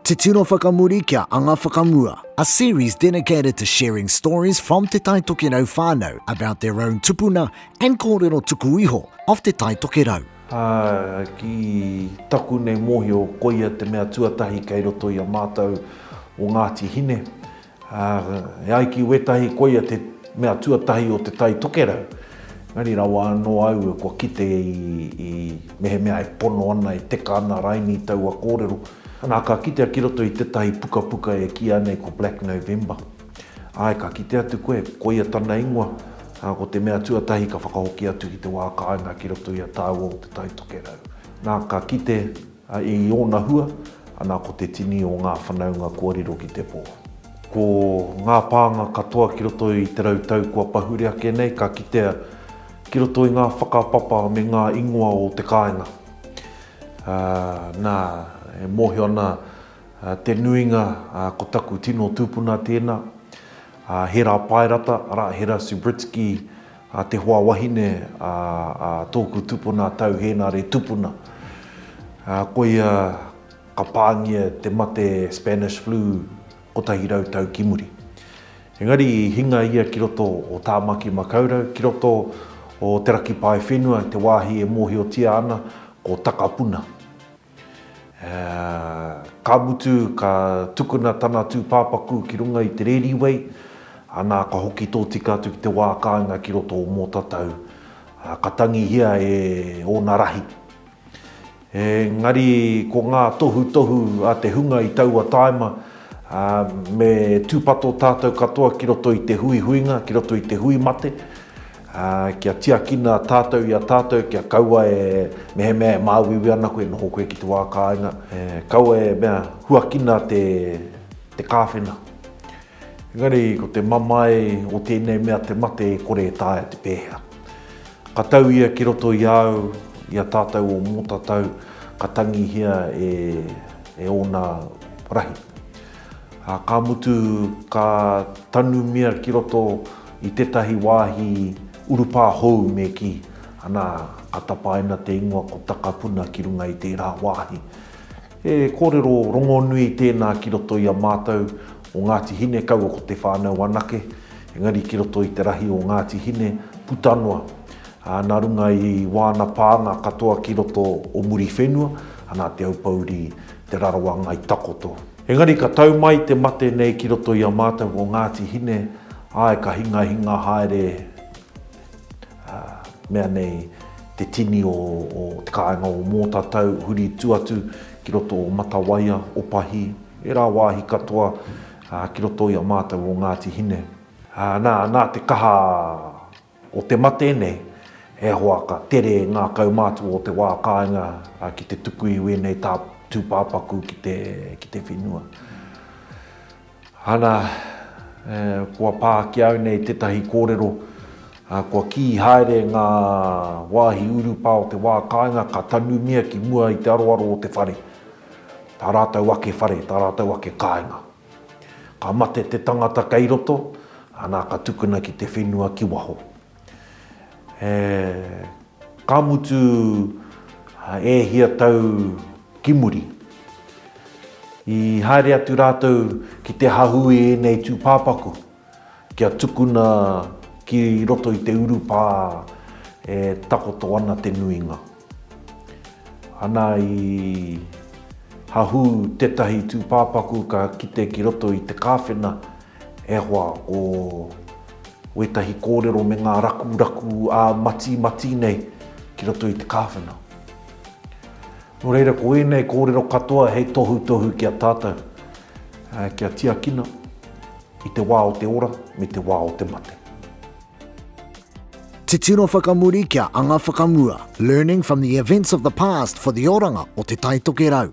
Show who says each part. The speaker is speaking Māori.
Speaker 1: Te Tino Whakamuri kia Anga Whakamua A series dedicated to sharing stories from Te Tai Tokerau whānau about their own tupuna and kōrero tuku iho of Te Tai Tokerau. Ā, ki
Speaker 2: taku nei mōhio, koia te mea tuatahi kei roto i a mātou o Ngāti Hine, Ā, e ai ki wētahi koia te mea tuatahi o Te Tai Tokerau, engari rawa anō au kua kite i mehemea e pono ana, e teka ana rainī taua kōrero. Nā, ka kitea ki roto i tētahi pukapuka e kīia nei ko Black November. Āe, ka kite atu koe, koia tana ingoa, ā, ko te mea tuatahi ka whakahoki atu ki te wā kāinga ki roto i a tāua o Te Tai Tokerau. Nā, ka kite A i ōna hua, ana ko te tini o ngā whanaunga kua riro ki te pō. Ko ngā pānga katoa ki roto i te rau tau kua pahure ake nei ka kitea ki roto i ngā whakapapa me ngā ingoa o te kāinga. Ā, nā, e mōhio ana te nuinga ko taku tino tūpuna tēnā, a Hera Paerata, arā, Hera Subritsky, A te hoa wahine a tōku tupuna a Tau Hēnare Tupuna. Koia ka pāngia te mate Spanish Flu kotahi rau tau ki muri. Engari i hinga ia ki roto o Tāmaki Makaurau, ki roto o Te Raki Paewhenua, te wāhi e mōhiotia ana ko Takapuna. Ka mutu, ka tukuna tana tūpāpaku ki runga i te rēri wei, anā, ka hoki tōtika atu ki te wā kāinga ki roto o Mōtatau, ka tangihia e ōna rahi. Engari, ko ngā tohutohu a te hunga i taua tāima, me tūpato tātou katoa ki roto i te huihuinga, ki roto i te hui mate. Ā, kia tiakina tātou i a tātou, kia kaua e mehemea e māuiui ana koe e noho koe ki te wā kāinga, e, kaua e mea, huakina te, te kāwhena. Engari, ko te mamae o tēnei mea te mate e kore e taea te pēhea. Ka tau ia ki roto i a au, i a tātou o Mōtatau, ka tangihia e, e ōna rahi. Ā, ka mutu, ka tanumia ki roto i tētahi wāhi urupā hou me kī, Anā, ka tapaina te ingoa ko Takapuna ki runga i tērā wāhi. He kōrero rongonui tēnā ki roto i a mātou o Ngāti Hine kaua ko Te Whānau anake, engari ki roto i te rahi o Ngāti Hine puta noa, ā, nā runga i wāna pānga katoa ki roto o Muriwhenua, anā, Te Aupōuri, Te Rarawa Ngai Takoto. Engari ka tau mai te mate nei ki roto i a mātou ko Ngāti Hine, āe ka hingahinga haere ā, mea nei te tini o te kāinga o Mōtatau huri tu atu ki roto o Matawaia, Opahi, ērā wāhi katoa ki roto i a mātou o Ngāti Hine. Ā, nā, nā te kaha O te mate nei, e hoa ka tere ngā kaumātua o te wā kāinga ki te tuku i wēnei tūpāpaku ki te whenua. Ana, kua pā ki au nei tētahi kōrero, kua kī haere ngā wāhi urupā o te wā kāinga ka tanumia ki mua i te aroaro o te whare, tā rātou ake whare, tā rātou ake kāinga. Ka mate te tangata kei roto, ana ka tukuna ki te whenua ki waho. He ka mutu e hia tau ki muri. I haere atu rātou ki te hahu i ēnei tūpāpaku. Kia tukuna ki roto i te urupā e takoto ana te nuinga. Ana i hahū tētahi tūpāpaku ka kite ki roto i te kāwhena e hoa ko wētahi kōrero me ngā rakuraku ā-matimati nei ki roto i te kāwhena. Nō reira ko ēnei kōrero katoa hei tohutohu ki a tātou kia tiakina. i te wā o te ora me te wā o te mate.
Speaker 1: Titiro whakamuri kia anga whakamua, learning from the events of the past for the oranga o Te Taitokerau.